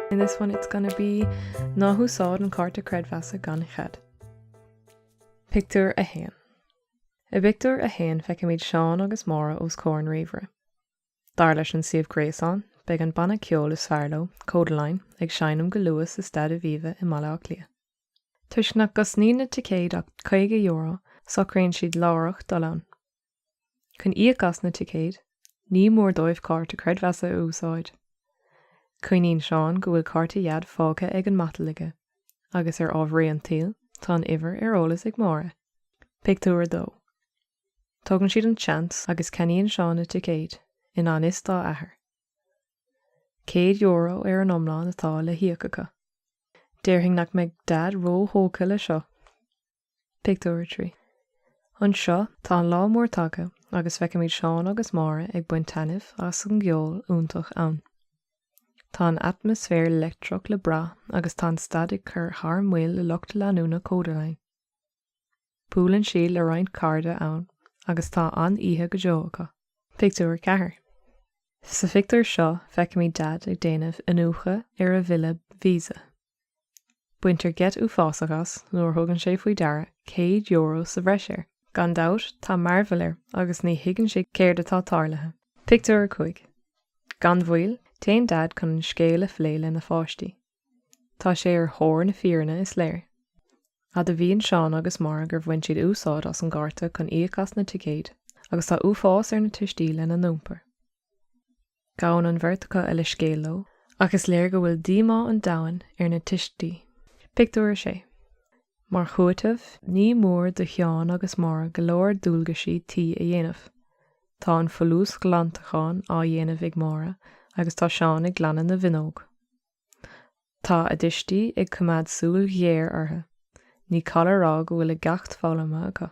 In this one it's gonna be Ná húsáid an cárta creidmheasa gan chead. Pictiúr 1 I bpictiúr 1 feicimid Seán agus Máire os comhair an ríomhaire. Dar leis an suíomh gréasáin, beidh an banna ceoil is fearr leo, Kodaline, ag seinm go luath sa Staid Aviva i mBaile Átha Cliath. Toisc nach gcosnaíonn na ticéid ach €50, socraíonn siad láithreach dul ann. Chun íoc as na ticéid, ní mór dóibh cárta creidmheasa a úsáid. Cuimhníonn Seán go bhfuil cárta Dhaid fágtha ar an matal aige, agus ar ámharaí an tsaoil, tá an uimhir ar eolas ag Máire. Pictiúr 2 Tógann siad an seans agus ceannaíonn Seán na ticéid, i ngan fhios dá athair. €100 ar an iomlán atá le híoc acu. Déarfainn nach mbeidh Daid ró-thógtha le seo! Pictiúr 3 Anseo, tá an lá mór tagtha agus feicimid Seán agus Máire ag baint taitneamh as an gceol iontach ann. Tá an atmaisféar leictreach le brath agus tá an staid ag cur thar maoil le lucht leanúna Kodaline. Buaileann siad le roinnt cairde ann agus tá an-oíche go deo acu. Pictiúr 4 Sa phictiúr seo, feicimid Daid ag déanamh iniúchadh ar a bhille Visa. Baintear geit uafásach as nuair a thugann sé faoi deara céad euro sa bhreis air. Gan dabht, tá mearbhall air agus ní thuigeann sé céard atá tarlaithe. Pictiúr 5 Gan mhoill, téann Daid chun an scéal a phlé lena pháistí. Tá sé ar thóir na fírinne, is léir. Admhaíonn Seán agus Máire gur bhain siad úsáid as an gcárta chun íoc as na ticéid agus tá uafás ar na tuistí lena n-iompar. Gabhann an bheirt acu a leithscéal leo ach is léir go bhfuil díomá an domhain ar na tuistí. Pictiúr 6 Mar chúiteamh, ní mór do Sheán agus Máire go leor dualgaisí tí a dhéanamh. Tá an folúsghlantachán á dhéanamh ag Máire agus tá Seán ag glanadh na bhfuinneog. Tá a dtuistí ag coimeád súil ghéar orthu. Ní call a rá go bhfuil a gceacht foghlamtha acu.